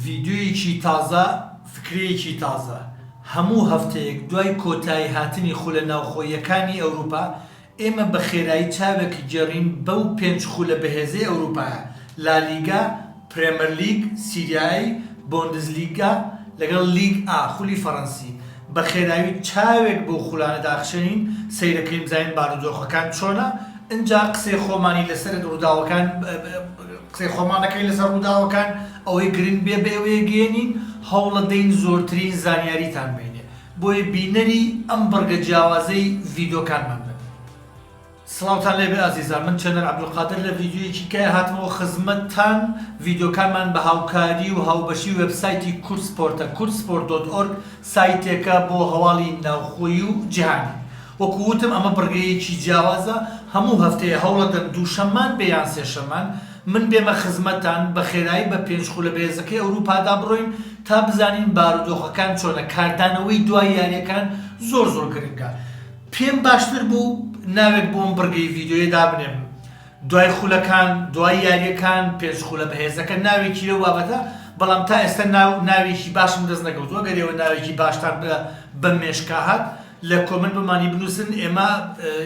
ڤیدیۆیەکی تازە، فکرەیەکی تازە. هەموو هەفتەیەک دوای کۆتایی هاتنی خولە ناوخۆییەکانی ئەوروپا، ئێمە بە خێرایی چاوێک گێڕین بەو پێنج خولە بەهێزەی ئەوروپایە، لالیگا، پرێمەرلیگ، سیریا ئەی، بۆندزلیگا، لەگەڵ لیگ ئا، خولی فەرەنسی. بە خێرایی چاوێک بەو خولانە داخشێنین، سەیرەکەین بزانین بارودۆخەکان چۆنە، ئنجا قسەی خۆمانی لەسەر رووداوەکان قسەی خۆمان دەکەین لەسەر ڕووداوەکان، ئەوەی گرنگ بێ بەێوەیەگەیەنین، هەوڵەدەین زۆرترین زانیاریتان بینێ، بۆیە بینەری ئەم بڕگە جیاوازەی ڤیدۆکانمان بن. سڵاوتان لێبێ ئازیزان من چێنەر عبدالقادر لە ڤیدیۆیەکی کای هاتمەوە خزمەتتان ڤیدیۆکانمان بە هاوکاری و هاوبەشی وێبسایتی کوردسپۆرتە، kurdsport.org، سایتێکە بۆ هەواڵی ناوخۆیی و جیهانی. وەکو وتم ئەمە بڕگەیەکی جیاوازە، هەموو هەفتەیە هەوڵەدەن دووشەممان بێ یان سێشەممان من بێمە خزمەتتان بە خێرایی بە پێنج خولە بەهێزەکەی ئەوروپادا بڕۆین تا بزانین بارودۆخەکان چۆنە کاردانەوەی دوای یاریەکان زۆر زۆر گرنگە پێم باشتر بوو ناوێک بۆم بڕگەی ڤیدیۆیە دابنێم دوای خولەکان، دوای یارییەکان، پێنج خولە بەهێزەکە، ناوێکی لەو بابەتە، بەڵام تا ئێستا ناو ناوێکی باشم دەست نەکەوتووە، گەر ئێوە ناوێکی باشتان بە بەم مێشکە هات، لە کۆمێنت بۆمانی بنووسن، ئێمە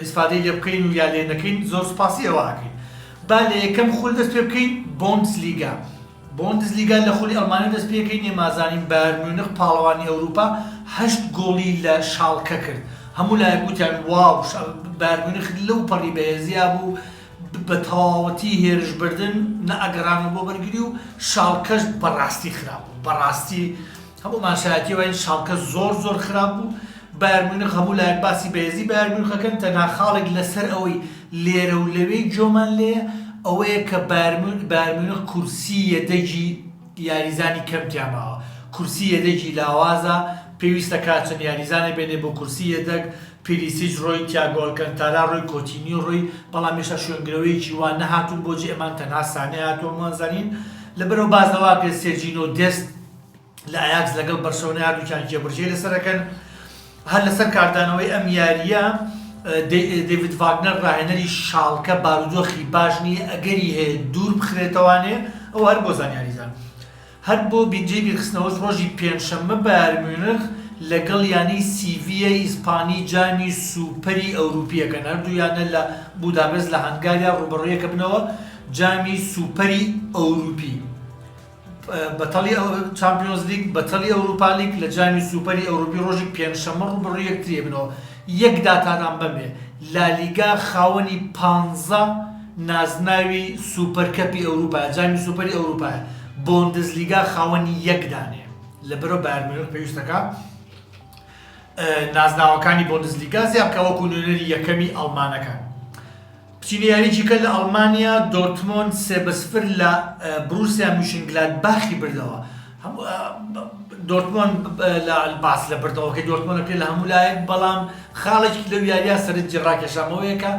ئیسفادەی لێ بکەین و یا لێ نەکەین، زۆر سوپاسی ئێوە ئەکەین. با لە یەکەم خول دەست پێ بکەین، بۆندسلیگا، بۆندسلیگا لە خولی ئەڵمانیەوە دەستپێکەی نێمازانین بایرن میونخ پاڵەوانی ئەوروپا هەشت گۆڵی لە شاڵکە کرد هەموو لایەک وتیان واو بایرن میونخ لەو پەڕی بەهێزیا بوو بە تەواوەتی هێرش بردن نە ئەگەڕانەوە بۆ بەرگری و شاڵکەش بەڕاستی خراپ بوو بەڕاستی هەموو ماسایەتی وایە شاڵکە زۆر زۆر خراپ بوو بایرن میونخ هەموو لایەک باسی بەهێزی بایرن میونخ ئەکەن تەنها خاڵێک لەسەر ئەوەی لێرە و لەوێی جۆمان لێیە ئەوەیە کە بایرن میونخ کورسی یەدەگی یاریزانی کەم تیا ماوە کورسی یەدەگی لاوازە پێویستە کا چەند یاریزانێک بێنێ بۆ کورسی یەدەگ پیلیسیچ ڕۆی تیاگۆ ئەلکەنتارا ڕۆی کۆتینیۆ ڕۆی بەڵام هێشتا شوێنگرەوەیەکی وا نەهاتوون بۆجی ئەمان تەنها سانێ هاتووە هەمووان زانین لەبەرئەو باس لەوە ئەکرێ سێرجینۆ دێست لە ئایاکس لەگەڵ بەرشەلۆنە هەردووکیان جێبەجێی لەسەر دەکەن هەر لەسەر کاردانەوەی ئەم یارییە دەیڤید ڤاگنەر ڕاهێنەری شاڵکە بارودۆخی باش نییە ئەگەری هەیە دوور بخرێتەوانێ ئەو هەر بۆ زانیاریزان هەر بۆ بینجی بیرخستنەوەش ڕۆژی پێنجشەممە بارمێنخ لەگەڵ یانی سیڤە ئیسپانی جامی سوپەری ئەوروپیەکەن هەردوویانە لە بودابست لە هەنگاریا ڕوبەڕویەکە بنەوە جامی سوپەری ئەوروپی بەتەڵی چامپیۆنزلیگ، بەتەڵی ئەوروپالیگ لە جامی سوپەری ئەوروپی رۆژی پێنجشەممە رووبەڕووی یەکتری ئەبنەوە، یەک داتادان بەمێ لالیگا خاوەنی پانزە نازناوی سوپەر کەپی ئەوروپایە، جامی سوپەری ئەوروپایە، بۆندزلیگا خاوەنی یەک دانەیە لەبەرئەو بایەر میونخ پێویستەکا نازناوەکانی بۆندزلیگا زیادبکا وەکو نوێنەری یەکەمی ئەڵمانەکان. چینی یاریی-کە لە ئەڵمانیا دۆرتمۆند سێ بە سفر لە بروسیا میونشنگلادباخی بردەوە. دۆرتمۆند باس لە بردنەوەکەی دۆرتمۆند ئەکرێت لە هەموو لایەک، بەڵام خاڵێکی لەو یارییە سەرنجی ڕاکێشامەوەیە کە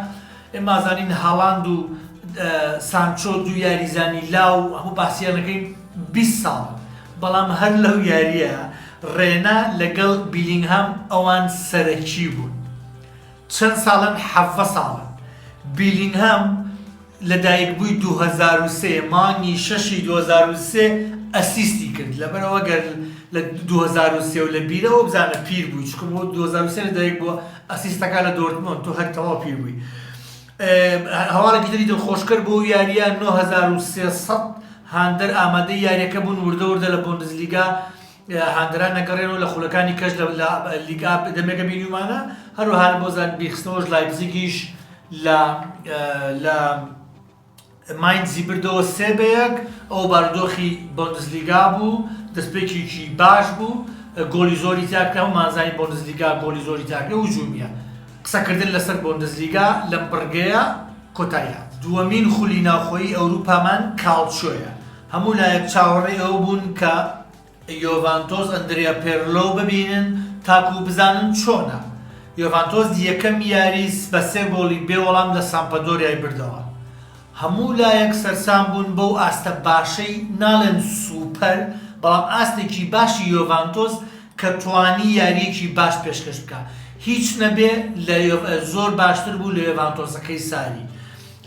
ئێمازانین هالاند و سانچۆ دوو یاریزانی لاو هەموو باسیان ئەکەین بیست ساڵ بەڵام هەر لەو یارییە ڕێنا لەگەڵ بیلینگهام ئەوان سەرەکی بوون. چەند ساڵن حەڤە ساڵە. بیلینهام لە دایک بووی دوو هەزار و سێ مانگی شەشی دوو هەزار و سێ ئەسیستی کرد لەبەر ئەوە گەر لە دوو هەزار و سێ و لە بیرەوە بزانە پیر بووی چکە بۆ دوو هەزار و سێ لە دایک بووە ئەسیستەکە لە دۆرتمۆند تۆ هەر تەواو پیر بووی هەواڵێکی تری دڵخۆشکەر بۆ یاریە 9300 هاندەر ئامادەی یاریەکە بوون وردە وردە لە بۆندزلیگا هاندەران نەگەڕێنەوە لە خولەکانی کەش لە لیگ ئا دەمێکە بینیومانە هەروەها بۆ زانبی خستنەوەش لایپزیگیش لە لە ماینزی بردەوە سێ بەیەک ئەو باردۆخی بۆندزلیگا بوو دەستپێکیی باش بوو گۆلی زۆری تیاکرا و مازای بۆندزلیگا گۆلی زۆری تاکرێ و جوومیە قسەکردن لەسەر بۆندزلیگا لەم بڕگەیە کۆتاییان دووەمین خولی ناوخۆیی ئەوروپامان کاڵچۆیە هەموو لایەک چاوەڕێی ئەوە بوون کە یۆڤانتۆس ئەندریا پێرلۆ ببینن تاکوو بزانن چۆنە. یۆڤانتۆس یەکەم یاری بە سێ گۆڵی بێ وەڵام لە سامپەدۆریای بردەوە. هەموو لایەک سەرسام بوون بەو ئاستە باشەی، ناڵێن سووپەر، بەڵام ئاستێکی باشی یۆڤانتۆس کە توانی یارییەکی باش پێشکەش بکا. هیچ نەبێ لە زۆر باشتر بوو لە یۆڤانتۆسەکەی ساری.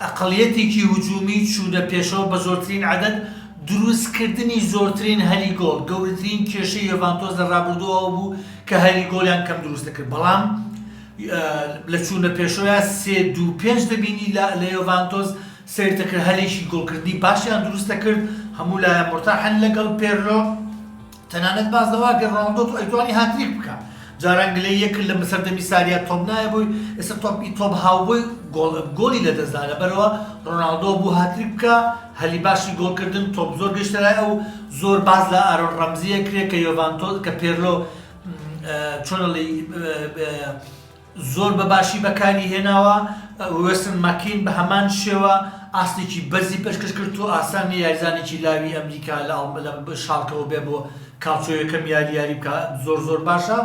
ئەقڵیەتێکی هجومی چوونە پێشەوە بە زۆرترین عەدەد، دروستکردنی زۆرترین هەلی گۆڵ، گەورەترین کێشەی یۆڤانتۆس لە رابردوو ئەوە بوو کە هەلی گۆڵیان کەم دروست دەکرد، بەڵام لە چوونە پێشەوەیا سێ دوو پێنج دەبینی لە یۆڤانتۆس سەیر دەکرد هەلێکی گۆڵکردنی باشیان دروست دەکرد، هەموو لایان مورتاحن لەگەڵ پێرلۆ. تەنانەت باس لەوە کرد ڕۆناڵدۆ ئەیتوانی هاتریک بکا، جاران گلەیی ئەکرد لە سەردەمی ساریا تۆپ نایەبووی، ئێستا تۆپ ی تۆپ هاوبۆی گۆڵ گۆڵی لەدەستدا، لەبەرئەوە ڕۆناڵدۆ بوو هاتریک بکا، هەلی باشی گۆڵکردن تۆپ زۆر گەیشتە لای ئەو، زۆر باس لە ئارۆن ڕەمزی ئەکرێ کە یۆڤانتۆ کە پێرلۆ چۆنەڵی. زۆر بە باشی بەکاری هێناوە، وێستن ماککین بە هەمان شێوە ئاستێکی بەرزی پێشکەش کرد و ئاسان نییە یاریزانێکی لاوی ئەمریکا لە شاڵکەوە بێ بۆ کاڵچۆ یەکەم یاری یاری بکا زۆر زۆر باشە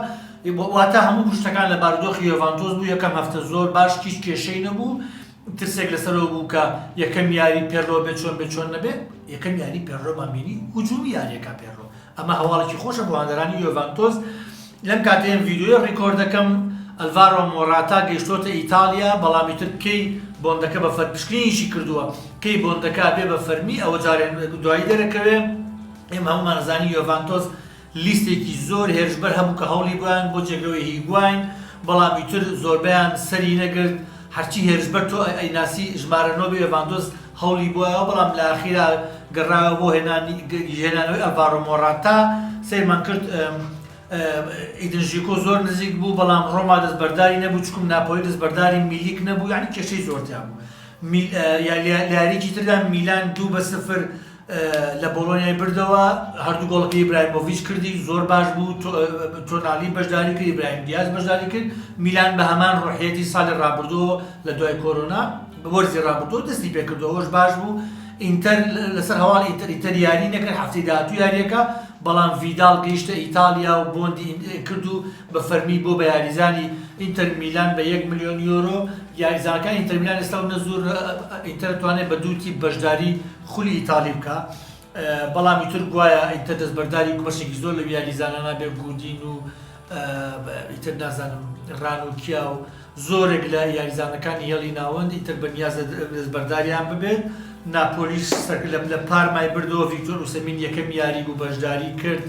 واتە هەموو گشتەکان لە بارودۆخی یۆڤانتۆس بوو یەکەم هەفتە زۆر باش هیچ کێشەی نەبوو ترسێک لەسەرەوە بوو کە یەکەم یاری پێرۆ بێ چۆن بێ چۆن نەبێ یەکەم یاری پێرۆمان بینی هجوومی یاریەکە پێرۆ ئەمە هەواڵێکی خۆشە بۆ هاندەرانی یۆڤانتۆس، لەم کاتەیم ڤیدیۆیە ڕیکۆرد دەکەم ئەلڤارۆ مۆراتا گەیشتۆتە ئیتاڵیا، بەڵام ئیتر کەی بۆندەکە بە فەر پشکنینیشی کردووە، کەی بۆندەکە ئەبێ بە فەرمی ئەوە جارێ دوایی دەرەکەوێ، ئێمە هەموومان ئەزانین یۆڤانتۆس لیستێکی زۆر هێرشبەر هەبوو کە هەوڵی بۆیان بۆ جێگرەوەی هیگواین، بەڵام ئیتر زۆربەیان سەری نەگرت. هەرچی هێرشبەر تۆ ئەیناسی ژمارە نۆ بێ ڤاندۆس هەوڵی بۆایەوە بەڵام لە ئاخیرا گەڕایەوە بۆ هێنانی هێنانەوەی ئەلڤارۆ مۆراتا سەیرمان کرد ئیدن ژیکۆ زۆر نزیک بوو بەڵام ڕۆما دەستبەرداری نەبوو چکم ناپۆلی دەستبەرداری میلیک نەبوو یعنی کێشەی زۆرتیان بوو یاریکی تردا میلان دوو بە سفر لە بۆڵۆنیای بردەوە، هەردوو گۆڵەکەی ئیبراهیمۆڤیچ کردی، زۆر باش بوو، تۆنالی بەشداری کرد، ئیبراهیم دیاز بەشداری کرد، میلان بە هەمان ڕۆحیەتی ساڵی ڕابردوو لە دوای کۆرۆنا، وەرزی ڕابردوو دەستی پێکردووە، ئەوەش باش بوو، ئینتەر لەسەر هەواڵی ئینتەر، ئینتەر یاری نەکرد، هەفتەی داهاتوو یارییەکە، بەڵام ڤیداڵ گەیشتە ئیتاڵیا و بۆندی ئینتەری کرد و بە فەرمی بووە بە یاریزانی ئینتەر میلان بە یەک ملیۆن یۆرۆ، یاریزانەکانی ئینتەر میلان ئێستا و نە زۆر ئینتەر دەتوانێت بە دوو تیپ بەشداری خولی ئیتاڵی بکا بەڵامی تر گوایە ئیتر دەستبەرداری بەشێکی زۆر لەو یاریزانانە بێ گودین و ئیتر نازانم ڕان و کیا و زۆرێک لە یاریزانەکانی هێڵی ناوەند ئیتر بە نیاز دەستبەرداریان ببێت ناپۆلیش سەر لە پارمای بردەوە ڤیکتۆر و سەمین یەکەم یاری بوو بەشداری کرد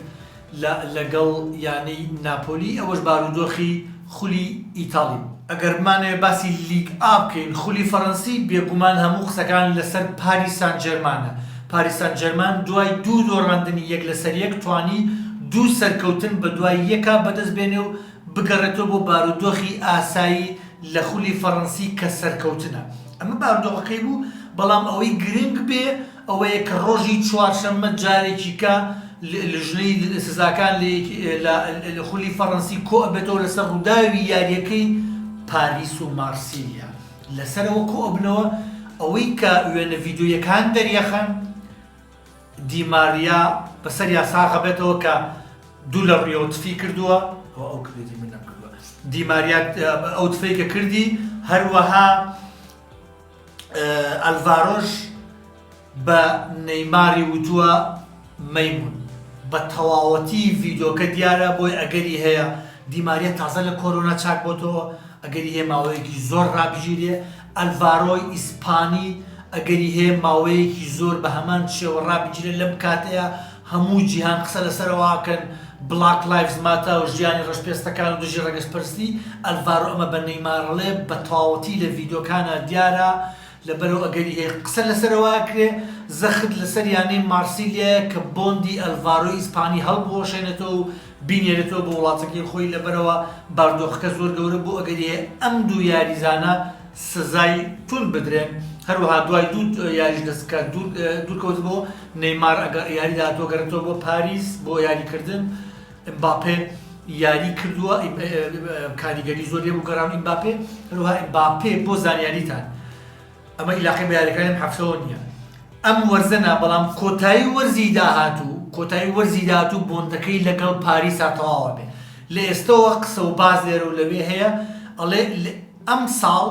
لە لەگەڵ یانەی ناپۆلی ئەوەش بارودۆخی خولی ئیتاڵی بوو. ئەگەر بمانەوێت باسی لیگ ئا بکەین خولی فەرەنسی بێگومان هەموو قسەکان لەسەر پاریس سان جێرمانە، پاریس سان جێرمان دوای دوو دۆڕاندنی یەک لەسەر یەک توانی دوو سەرکەوتن بەدوای یەکا بەدەست بێنێ و بگەڕێتەوە بۆ بارودۆخی ئاسایی لە خولی فەرەنسی کە سەرکەوتنە ئەمە بارودۆخەکەی بوو بەڵام ئەوەی گرنگ بێ ئەوەیە کە ڕۆژی چوارشەممە جارێکیکە لیژنەی سزاکان لە خولی فەڕەنسی کۆئەبێتەوە لەسەر ڕووداوی یارییەکەی پاریس و مارسیلیا لەسەرەوە کۆئەبنەوە ئەوەی کە وێنە ڤیدۆییەکان دەریەخەن دیماریا بەسەریا ساغەبێتەوە کە دوو لە ڕیەوە تفی کردووە ئەو کردی منە دیماریات ئەو تفەی کە کردی هەروەها ئەلڤارۆش بە نەیماری وتووە مەیموون. بە تەواوەتی ڤیدۆکە دیارە بۆی ئەگەری هەیە دیماریە تازە لە کۆرۆنا چاک بۆتەوە ئەگەری هەیە ماوەیەکی زۆر ڕابگیرێ ئەلڤارۆی ئیسپانی ئەگەری هەیە ماوەیەکی زۆر بە هەمان شێوە ڕابگیرێ لەم کاتەیە هەموو جیهان قسە لەسەر ئەوەکەن بلاک لایڤز ماتە و ژیانی ڕەشپێستەکان و دژی ڕەگەزپەرستی، ئەلڤارۆ ئەمە بە نەیمارەڵێ بە تەواوەتی لە ڤیدیۆکانا دیارە، لەبەرئەو ئەگەری هەیە قسە لەسەر ئەوەکرێ زەخت لەسەر یانەی مارسیلیایە کە بۆندی ئەلڤارۆی ئیسپانی هەڵبوەشێنێتەوە و بینێرێتەوە بۆ وڵاتەکەی خۆی، لەبەرئەوە باردۆخەکە زۆر گەورە بوو ئەگەری هەیە ئەم دوو یاریزانە سزای توند بدرێن، هەروەها دوای دوو یاریش دەست کە دوورکەوتبوو، نێیمار ئەگەر یاری داهاتوو گەڕێتەوە بۆ پاریس بۆ یاریکردن، ئمباپێ یاری کردووە کاریگەری زۆر لێبوو گەڕان ئمباپێ، هەروەها ئمباپێ بۆ زانیاریتان ئەمە ئیلاقەی بە یاریەکانی ئەم هەفتەوە نییە، ئەم وەرزە نا، بەڵام کۆتایی وەرزی داهاتوو کۆتایی وەرزی داهاتوو بۆندەکەی لەگەڵ پاریسا تەواوئەبێ، لە ئێستەوە قسە و باس لێرە و لەوێ هەیە، ئەڵێ. ئەمساڵ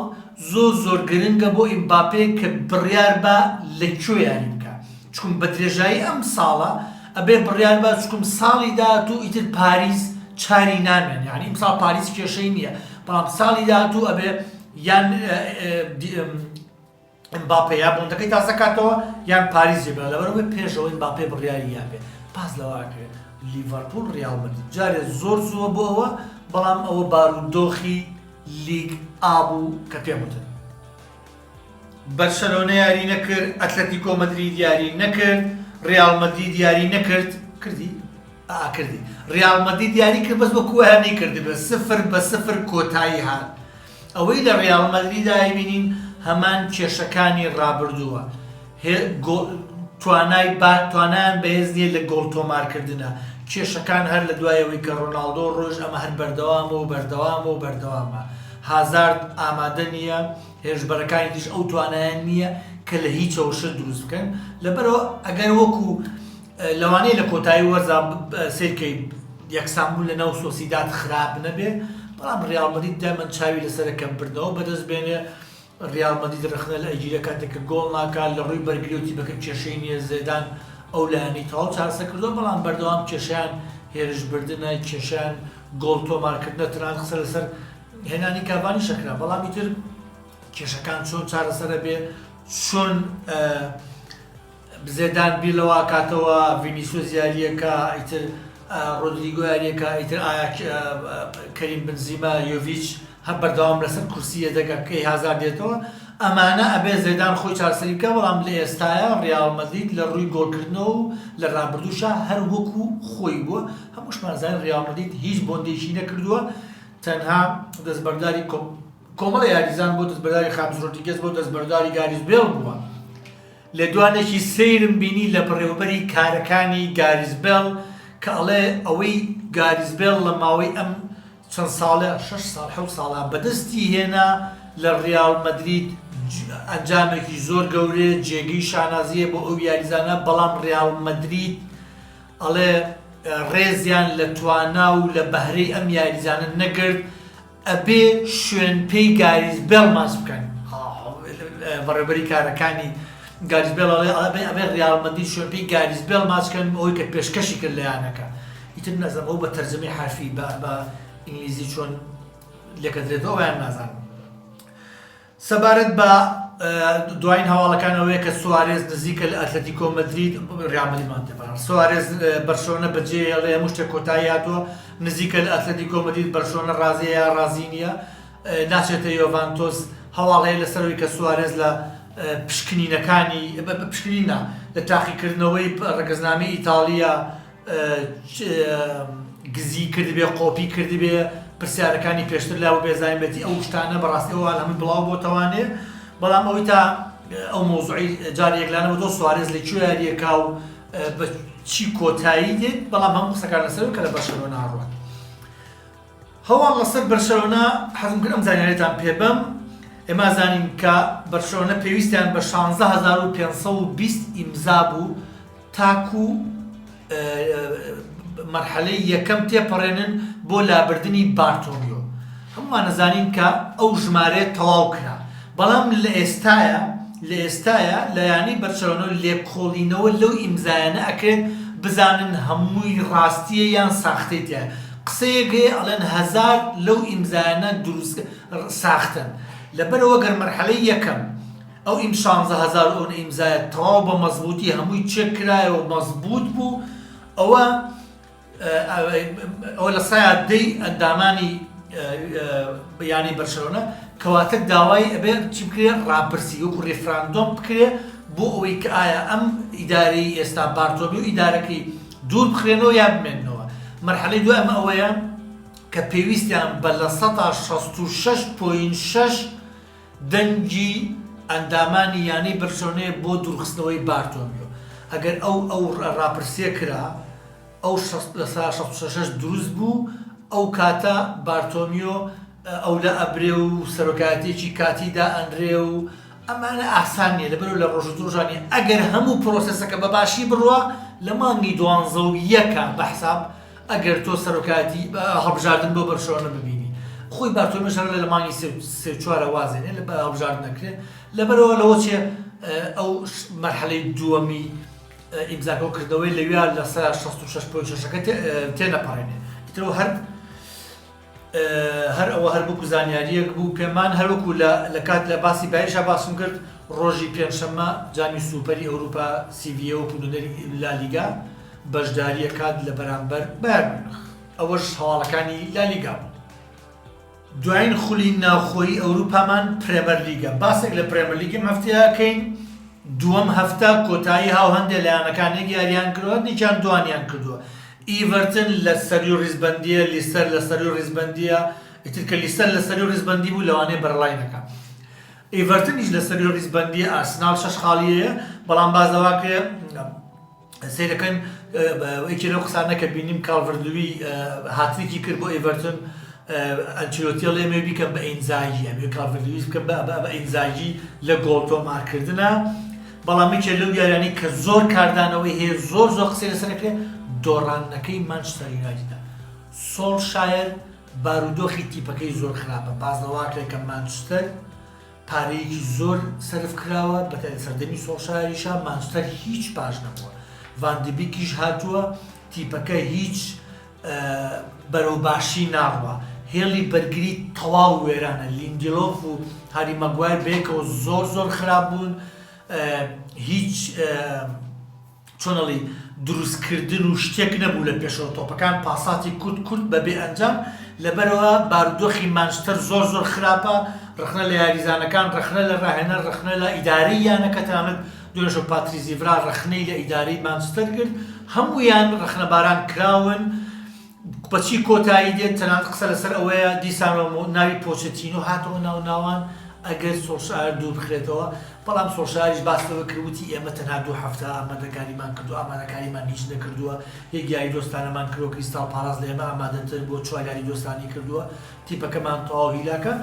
زۆر زۆر گرنگە بۆ ئیمباپێ کە بڕیار با لە کوێ یاری بکا چکم بە درێژایی ئەم ساڵە ئەبێ بڕیار با چکم ساڵی داهاتوو ئیتر پاریس چاری نامێن یانی ئمساڵ پاریس کێشەی نییە بەڵام ساڵی داهاتوو ئەبێ یان ئمباپێ یا بۆندەکەی تازەکاتەوە یان پاریس جێ بێڵێ لەبەرئەوەی پێشەوە ئمباپێ بڕیاری یابێ باس لەوە ئەکرێ لیڤەرپوڵ ڕیاڵ مەدرید جارێ زۆر زووە بۆ ئەوە بەڵام ئەوە بارودۆخی لیگ ئا بوو کە پێم وتت بەرشەلۆنە یاری نەکرد ئەتلەتیکۆ مەدرید یاری نەکرد ڕیاڵ مەدرید یاری نەکرد کردی ئا کردی ڕیاڵ مەدرید یاری کرد بەس وەکووە هەر نەیکردبێ سفر بە سفر کۆتایی هات ئەوەی لە ریال مەدریدا ئەیبینین هەمان کێشەکانی رابردووە هێ گۆڵ توانای با توانایان بەهێز نیە لە گۆڵ تۆمارکردنا کێشەکان هەر لە دوای ئەوەی کە رۆناڵدۆ رۆیشت ئەمە هەر بەردەوامە و بەردەوامە و بەردەوامە هازارد ئامادە نیە هێرشبەرەکانی تریش ئەو توانایان نیە کە لە هیچەوە شت دروست بکەن لەبەرئەوە ئەگەر وەکو لەوانەیە لە کۆتایی وەرزا سەیر کەیت یەکسان بوون لەناو سۆسیداد خراپ نەبێ بەڵام ریال مەدید دایمەن چاوی لەسەر کەمکردنەوە بەدەست بێنێ ریال مەدید رەخنە لە ئەگیرە کاتێک کە گۆڵ ناکات لە ڕووی بەرگری و تیپەکە کێشەی نییە زێدان ئەو لایەنەی تەواو چارەسەر کردووە بەڵام بەردەوام کێشیان هێرشبردنە کێشیان گۆڵ تۆمارکردنە تەنانەت قسە لەسەر هێنانی کاڤانی شەکرا بەڵام ئیتر کێشەکان چۆن چارەسەرە بێ چۆن زێدان بیر لەوە ئەکاتەوە ڤینیسۆس یارییەکا ئیتر ڕۆدریگۆ یارییەکا ئیتر ئایا کەریم بنزیما یۆڤیچ هەر بەردەوام لەسەر کورسی یەدەگە کەی هازار دێتەوە ئەمانە ئەبێ زێدان خۆی چارەسەری بکە بەڵام لە ئێستایا ڕیاڵ مەدرید لە ڕووی گۆڵکردنەوە و لە ڕابردووشا هەر وەکو خۆی بووە هەمووشمان زانین ڕیاڵ مەدرید هیچ بۆندێکی نەکردووە تەنها دەستبەرداری کۆمەڵە یاریزان بۆ دەستبەرداری خامس ڕۆدریگێز بۆ دەستبەرداری گاریس بێڵ بووە لێدوانێکی سەیرم بینی لە بەڕێوەبەری کارەکانی گاریس بێڵ کە ئەڵێ ئەوەی گاریس بێڵ لە ماوەی ئەم چەند ساڵە شەش ساڵ حەوت ساڵە بەدەستی هێنا لە ڕیاڵ مەدرید ئەنجامێکی زۆر گەورەیە جێگەی شانازیە بۆ ئەو یاریزانە بەڵام ڕیاڵ مەدرید ئەڵێ ڕێزیان لە توانا و لە بەهرەی ئەم یاریزانە نەگرت ئەبێ شوێن پێی گاریس بێڵ ماچ بکەن بەڕێبەری کارەکانی گاریس بێڵ ئەڵێ ئەبێ ڕیاڵ مەدرید شوێن پێی گاریس بێڵ ماچ بکەن ئەوەی کە پێشکەشی کرد لە یانەکە ئیتر نەزم ئەو بە تەرجەمەی حرفی بە ئینگلیزی چۆن لێکەدرێتەوە یان نازانم سەبارەت بە دوایین هەواڵەکان ئەوەیە کە سوارێز نزیکە لە ئەتلەتیکۆ مەدرید، ریال مەدرید مان تێ پەڕاند، سوارێز بەرشەلۆنە بەجێهێڵێ هەموو شتێک کۆتایی هاتووە، نزیکە لە ئەتلەتیکۆ مەدرید، بەرشەلۆنە رازییە یا رازی نییە، ناچێتە یۆڤانتۆس، هەواڵ هەیە لەسەر ئەوەی کە سوارێز لە پشکنینەکانی، پشکنین نا، لە تاقیکردنەوەی رەگەزنامەی ئیتاڵییە، گزی کردبێ قۆپی کردبێ پرسیارەکانی پێشتر لا بێزانبێتی ئەو شتانە بەڕاستی ئەو هەمووی بڵاو بۆتەوانێ بەڵام ئەوی تا ئەو مۆزعی جاری یەکلانە بۆ سوارێز لە کوێ یاریەکە و بە چی کۆتایی دێت بەڵام هەم قسەکان لەسەر کە لە بەشەوە ناڕوات هەواڵ لەسەر بەرشەلۆنە حەزم کرد ئەم زانیارەتان پێ بەم ئێمە زانین کە بەرشەلۆنە پێویستیان بە شانزە هەزار و پێنج سەد و بیست ئیمزا بوو تاکو مەرحەلەی یەکەم تێپەڕێنن بۆ لابردنی بارتۆمیۆ هەمووان نەزانین کە ئەو ژمارەیە تەواو کرا بەڵام لە ئێستاە لە ئێستاە لە یانی بەرشەلۆنە و لێکۆڵینەوە لەو ئیمزایانە ئەکرێت بزانن هەمووی ڕاستیە یان ساختەی تیا قسەیەک هەیە ئەڵێن هەزار لەو ئیمزایانە دروست ساختەن لەبەرئەوە گەر مەرحەلەی یەکەم ئەو ئیم شانزە هەزار ئەو ئیمزایە تەواو بە مەزبووتی هەمووی چێک کرایەوە مەزبووت بوو ئەوە ئەوە لە سایاد دەی ئەندامانی بیانی بەرشەوەە کەواتە داوای ئەبێ چی بکرێ ڕاپرسی وەکو ڕێفراندۆم بکرێ بۆ ئەوەی کە ئایا ئەم ئیداری ئێستا بارتۆبی و ئیدارەکەی دوور بخرێنەوە یان بمێننەوە. مەرحەلەی دوای ئەمە ئەوەیە کە پێویستیان بە لە سەدا شەست و شەش پۆینت شەش دەنگی ئەندامانی یانەی بەرشلۆنەیە بۆ دوورخستنەوەی بارتۆمیۆ. ئەگەر ئەو ئەو راپرسییە کرا، ئەو شەست لە سەدا شەست و شەش شەش دروست بوو، ئەو کاتە بارتۆمیۆ ئەولا ئەبرێ و سەرۆکایەتییەکی کاتی دائەنرێ و ئەمانە ئاسان نیە لەبەرئەوە لە ڕۆژو درۆژانێ ئەگەر هەموو پرۆسێسەکە بە باشی بڕوا لە مانگی دوانزە و یەکا بە حساب ئەگەر تۆ سەرۆکایەتی هەڵبژاردن بۆ بەرشۆنە ببینی خۆی بارتۆلمێش هەر لە مانگی سێ و چوارە وازێنێ لە هەڵبژاردن نەکرێ لەبەرەوە لەوە چێ ئەو مەرحەلەی دووەمی ئیمزاکە و کردەوەی لەویا لە سەر 66 پۆی شەشەکە تێنەپەڕێنێ ترەوە هەر هەر ئەوە هەر وەکو زانیارییەک بوو پێمان هەر وەکو لە لە کات لە باسی بایشا باسم کرد ڕۆژی پێنجشەممە جامی سوپەری ئەوروپا سیڤییە وەکو نوێنەری لالیگا بەشدارییە کات لە بەرامبەر بایەر میونخ ئەوەش هەواڵەکانی لالیگا بوو. دوایین خولی ناوخۆیی ئەوروپامان پرێمەرلیگە باسێک لە پرێمەرلیگ ئەم هەفتەیە ئەکەین دووەم هەفتە کۆتایی هاو هەندێ لە یانەکان یەک یارییان کردووە یەکیان دووانیان کردووە ئیڤەرتن لە سەروی ڕیزبەندیە لیستەر لە سەروی ڕیزبەندیە ئیتر کە لیستەر لە سەروی ڕیزبەندی بوو لەوانەیە بەرەڵای نەکا ئیڤەرتنیش لە سەروی ڕیزبەندی ئارسناڵ شەش خاڵیەیە بەڵام باز لەواکرێ سیرەکەن یەکی لەو قسانە کە بینیم کاڵڤردوی هاتریکی کرد بۆ ئیڤەرتن ئەنچلۆتیە لێمێ بیکەم بە ئینزاگی ئەمێ کاڵڤردویس بکەم بە ئینزاگی لە گۆڵ تۆمارکردە بەڵام یەکێ لەو یاریانەی کە زۆر کاردانەوەی هەیە زۆر زۆر قسەی لەسەر ئەکرێ دۆڕاندنەکەی مانچستەر یونایتدە سۆڵشایەر بارودۆخی تیپەکەی زۆر خراپە بازنەواکرێت کە مانچستەر پارەیەکی زۆر سرف کراوە بە سەردەمی سۆڵشایریشا مانچستەر هیچ پاش نەبووە ڤاندبیکیش هاتووە تیپەکە هیچ بەرەو باشی ناڕوا هێڵی بەرگری تەواو وێرانە لیندیلۆف و هاری ماگوایر بەیەکەوە زۆر زۆر خراپ بوون هیچ چۆنەڵی دروستکردن و شتێک نەبوو لە پێشەوە تۆپەکان پاساتی کورت کورت بە بێ ئەنجام لەبەرەوە بارودۆخی مانچستەر زۆر زۆر خراپە ڕخنە لە یاریزانەکان ڕخنە لە ڕاهێنەر ڕخنە لە ئیدارەی یانەکە تەنانەت دۆژۆ پاتریس ئیڤرا ڕەخنەی لە ئیدارەی مانچستەر گرت، هەموویان ڕەخنەباران کراون، بەچی کۆتایی دێت، تەنانەت قسە لەسەر ئەوەیە دیسانەوە ناوی پۆچەتینۆ هاتەوە ناو ناوان ئەگەر سۆڵشایەر دووربخرێتەوە، بەڵام سۆڵشایەریش باس لەوە کرد وتی ئێمە تەنها دوو هەفتە ئامادەکاریمان کردووە، ئامادەکاریمان هیچ نەکردووە، یەک یاری دۆستانەمان کردووە، کریستاڵ پاڵاس لە ئێمە ئامادەتر بووە، چوار یاری دۆستانی کردووە تیپەکەمان تەواو هیلاکە،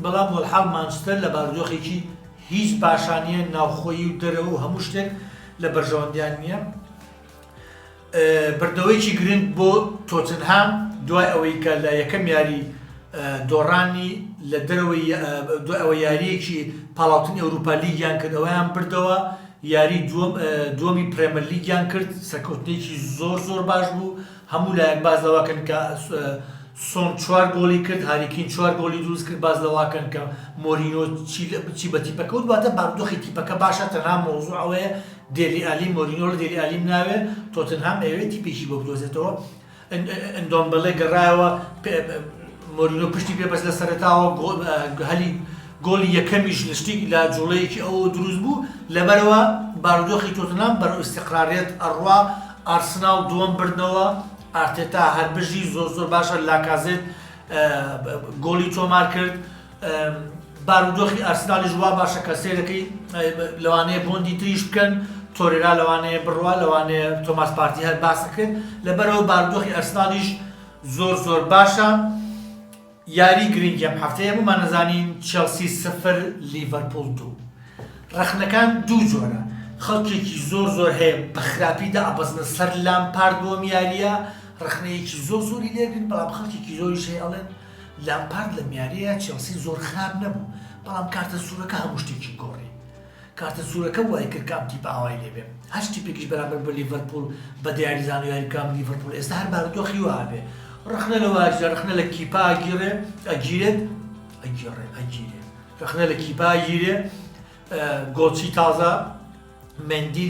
بەڵام وەلحاڵ مانچستەر لە بارودۆخێکی. هیچ باشا نیە ناوخۆیی و دەرەوە و هەموو شتێک لە بەرژەوەندیان نیە بردنەوەیەکی گرنگ بۆ تۆتنهام دوای ئەوەی کە لە یەکەم یاری دۆڕانی لە دەرەوەی دوای ئەوە یاریەکی پاڵاوتنی ئەوروپا لیگیان کرد ئەویان بردەوە یاری دووەمی پرێمەر لیگیان کرد سەرکەوتنێکی زۆر زۆر باش بوو هەموو لایەک باس لەوەکەن کە سۆن چوار گۆڵی کرد هاری کین چوار گۆڵی دروست کرد باس لەواکەن کە مۆرینۆ چی بە تیپەکە وت واتە بارودۆخی تیپەکە باشە تەنها مەوزوع ئەوەیە دێلی ئالی مۆرینۆ لە دێلی ئالیم ناوێ تۆتنهام ئەوێ تیپێکی بۆ بدۆزێتەوە ئەندۆمبەڵێ گەڕایەوە مۆرینۆ پشتی پێ بەس لە سەرتاوە هەلی گۆلی یەکەمیش لشتی لە جوڵەیەکی ئەو دروست بوو لەبەرەوە بارودۆخی تۆتنام بەرەو استقراریت ئەڕوا ئارسناڵ دووەم بردنەوە ئارتێتا هەربژی زۆر زۆر باشە لاکازێت گۆڵی تۆمار کرد بارودۆخی ئارسناڵیش وا باشە کە سێرەکەی لەوانەیە بۆندی تریش بکەن تۆرێرا لەوانەیە بڕوا لەوانەیە تۆماس پارتی هەر باسەکرد لەبەرەوە باردۆخی ئەسنالیش زۆر زۆر باشە یاری گرنگی ئەم هەفتەیە بۆمان ئەزانین چێڵسی سفر لیڤەرپوڵ دوو ڕەخنەکان دوو جۆرە خەڵکێکی زۆر زۆر هەیە بە خراپی دائەبەزنە سەر لامپارد بۆ ئەم یاریە ڕەخنەیەکی زۆر زۆری لێگرن بەڵام خەڵکێکی زۆریش هەیە ئەڵێن لامپارد لەم یاریە چێڵسی زۆر خراپ نەبوو بەڵام کارتە سورەکە هەموو شتێکی گۆڕی کارتە سورەکە وایکرد کام تیپ ئاوای لێ بێ هەشت تیپێکیش بەرامبەر بە لیڤەرپوڵ بە دیاری زانیو یاری بکام لیڤەرپوڵ ئێستا هەر بارودۆخی وا ئەبێ رەخنە لە واجدە رەخنە لە کیپا ئەگیرێ ئەگیرێت ئەگیڕێ ئەگیرێ رەخنە لە کیپا ئەگیرێ گۆڵچی تازە مندی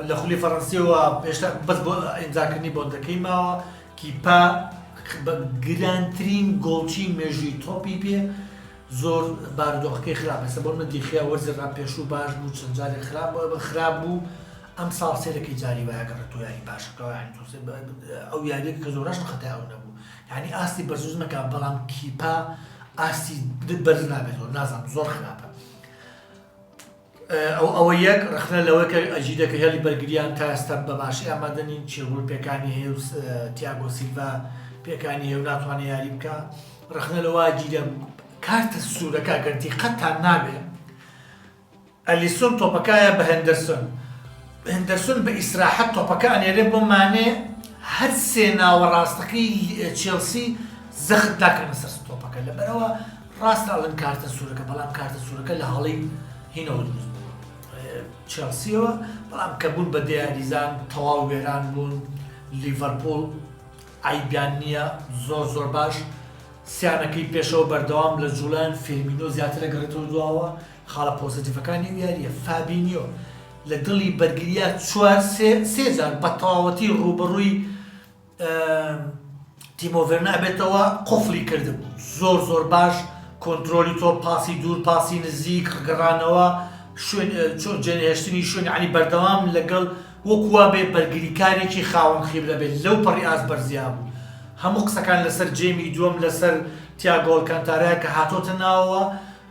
لە خولی فەڕەنسیەوە پێشتا بەس بۆ ئینجاکردنی بۆندەکەی ماوە کیپا گرانترین گۆڵچی مێژووی تۆپی پێ زۆر بارودۆخەکەی خراپ ئێستا بۆ نمونە دیخیا وەرزی را پێشوو باش بوو چەند جارێک خراپ خراپ بوو ئەم ساڵ سێرەکی جاری وایە کە تۆ یاری باشەکەەوە یانی تۆ ئەو یاریێک کە زۆرش خەتای ئەو نەبوو یعنی ئاستی بەرزوز نەکە بەڵام کیپا ئاستی بەرز نابێتەوە نازانم زۆر خراپە ئەو ئەوە یەک، ڕەخنە لەوە کە ئەجیدە کە هێڵی بەرگرییان تا ئێستا بە باشی ئامادە نین، چیربول پێکانی هەیە و تیاگۆ سیلڤا پێکانی هەیە و ناتوانێت یاری بکا. ڕەخنە لەوە ئەجیدە کارتە سوورەکە گەر دیقەتتان نابێت ئەلیسۆن تۆپەکایە بە هێندەرسۆن، هێندەرسۆن بە ئیسراحەت تۆپەکە ئەنێرێ بۆ مانێ، هەر سێ ناوەڕاستەکەی چێڵسی زەخت داکەنە سەر تۆپەکە، لەبەرئەوە ڕاستە ئەڵێن کارتە سوورەکە، بەڵام کارتە سوورەکە لە هەڵەی هینەوە دروست بووە چێڵسییەوە، بەڵام کە بوون بە دە یاریزان تەواو وێران بوون، لیڤەرپوڵ عەیبیان نییە زۆر زۆر باش سیانەکەی پێشەوە بەردەوام لە جوڵەن، فێرمینۆ زیاتر ئەگەڕێتەوە دواوە، خاڵە پۆزەتیڤەکانی ئەو یارییە فابینیۆ لە دڵی بەرگرییە چوار سێ سێ جار بە تەواوەتی ڕووبەڕووی تیمۆ ڤێرنەر بێتەوە قفڵی کردم زۆر زۆر باش کۆنتترۆلی تۆ پاسی دوور پاسی نزیک گەڕانەوە چۆن جێنهێشتنی شوێن علی بەردەوام لەگەڵ وەکووا بێ بەرگریکارێکی خاوەن خیبرە بێت لەو پەڕی ئاز بەرزیا بوو هەموو قسەکان لەسەر جێمی دووەم لەسەر تیاگۆڵکانتارای کە هاتۆتە ناوەوە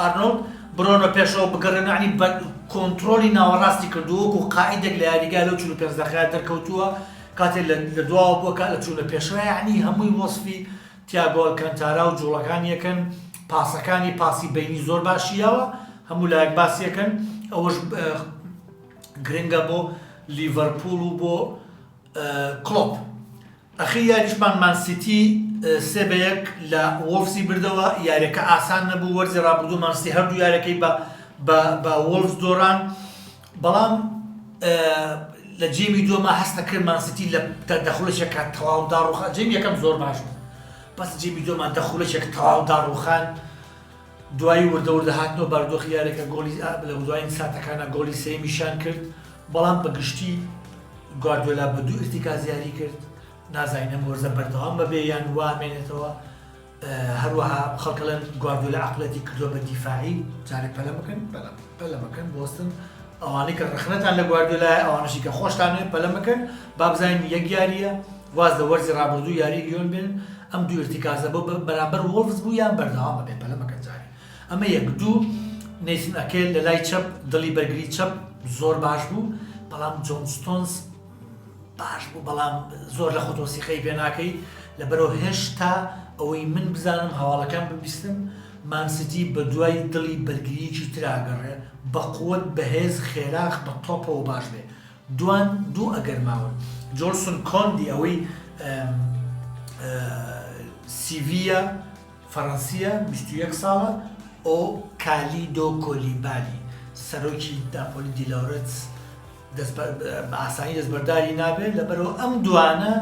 ئارنۆڵد برۆنۆ پێشەوە بگەڕێن عنی بە کۆنترۆلی ناوەڕاستی کردو وەکو قائیدێک لە یاریگا لەو 45 دەقەیە دەرکەوتووە کاتێ لە دواوە بووە کە لە چوونە پێشەوە یعنی هەمووی وەسفی تیاگۆ ئەلکانتارا و جوڵەکانیەکەن پاسەکانی پاسی بینی زۆر باشی یاوە هەموو لایەک باسیەکەن ئەوەش گرنگە بۆ لیڤەرپوڵ و بۆ کڵۆپ، ئەخیر یاریشمان مان سیتی سێ بە یەک لە وۆڵفزی بردەوە، یاریەکە ئاسان نەبوو، وەرزی رابردوو مان سیتی هەردوو یاریەکەی بە وۆڵفز دۆڕان، بەڵام لە جێمی دووەما هەست ئەکرد مان سیتی لە دە خولەکێکا تەواو داڕووخان، جێمی یەکەم زۆر باش بوو، بەس جێمی دووەما دە خولەکێک تەواو داڕووخان. دوایی وردە وردە هاتنەوە باردۆخی یاریەکە گۆڵی لە دوایین ساتەکانە گۆڵی سێمیشان کرد بەڵام بە گشتی گواردۆلا بە دوو ئرتیکاز یاری کرد نازانین ئەم وەرزە بەردەوام بەبێ یان وامێنێتەوە هەروەها خەڵکەڵێن گواردۆلا عقلەتی کردوە بە دیفاعی جارێک پەلە بکەن پەلە بکەن بۆستن ئەوانەی کە ڕخنەتان لە گواردۆلای ئەوانشی کە خۆشتانێ پەلە بکەن بابزانین یەک یاریە واز لە وەرزی رابردووی یاری لیۆن بێنن، ئەم دوو ئیرتیکازە بۆ بەرامبەر وۆڵڤس بوو یان بەردەوامە بێ پەلە مەکەن جارێ ئەمە یەک دوو نەیسن ئەکێ لە لای چەپ دڵی بەرگری چەپ زۆر باش بوو بەڵام جۆن ستۆنس باش بوو بەڵام زۆر لە خۆتۆ سیقەی پێ ناکەی لەبەرەوە هێشتا ئەوەی من بزانم هەواڵەکان ببیستم مانسیتی بە دوای دڵی بەرگریەکی تراگەڕێ بە قوت بەهێز خێراخ بە تۆپەوە باش بێ دوان دوو ئەگەر ماون. جۆنسون کۆندی ئەوەی سیڤییە فەرەنسییە بیست و یەک ساڵە و کالیدۆ کۆلیبالی سەرۆکی ناپۆلی دیلۆرتس بە ئاسانی دەستبەرداری نابێت لەبەرەوە ئەم دوانە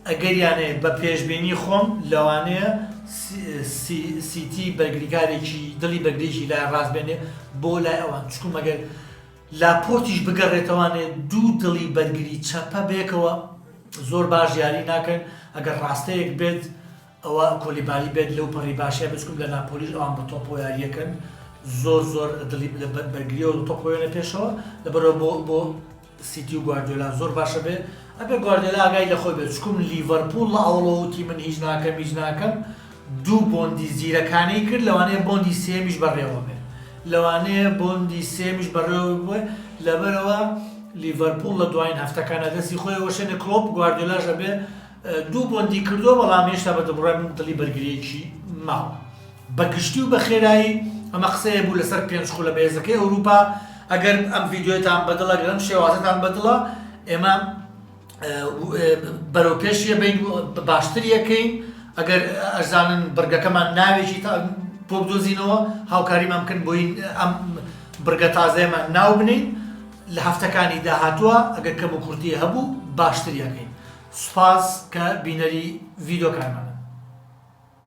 ئەگەریان هەیە بە پێشبینی خۆم لەوانەیە سیتی بەرگریکارێکی دڵی بەرگریی لای ڕاست بێنێ بۆ لای ئەوان چکو مەگەر لاپۆرتیش بگەڕێتەوانێ دوو دڵی بەرگری چەپە بەیەکەوە زۆر باش یاری ناکەن ئەگەر ڕاستەیەک بێت ئەوە کۆلیبالی بێت لەو پەڕی باشە بچکم لە ناپۆلیش ئەوان بە تۆپۆ یاریەکەن زۆر زۆر دڵی لە بەرگریەوە تۆپۆێنە پێشەوە لە بەرەوە بۆ بۆ سیتی و گواردیۆلا زۆر باشە بێ ئەبێ گواردێلا ئاگای لە خۆی بێت چکم لیڤەرپول لە ئەوڵەوتی من هیچ ناکەم هیچ ناکەم دوو بۆندی زیرەکانەی کرد لەوانەیە بۆندی سێیەمیش بەڕێوە بێ لەوانەیە بۆندی سێیەمیش بەڕێوە بێ لەبەرئەوە لیڤەرپوڵ لە دواین هەفتەکانا دەستی خۆی ئەوەشێنێ کڵۆپ گواردیۆلاش ئەبێ دوو بۆندی کردوە بەڵام هێشتا بە دڵڕای من دڵی بەرگریەکی ماوە بە گشتی و بە خێرایی ئەمە قسەیە بوو لەسەر پێنج خولە بەێزەکەی ئەوروپا ئەگەر ئەم ڤیددیوێتان بەدڵە گەرم شێوازتان بەدڵە ئێمە بەرەو پێش یە بین باشتر یەکەین ئەگەر ئەزانن بڕگەکەمان ناوێکی تا بۆ بدۆزینەوە هاوکاریمان بکەن بۆی ئەم بڕگە تازەیەمان ناو بنین لە هەفتەکانی داهاتووە ئەگەر کەم و کورتی هەبوو باشتر یەکەین سوپاس کە بینەری ڤیدۆکانمان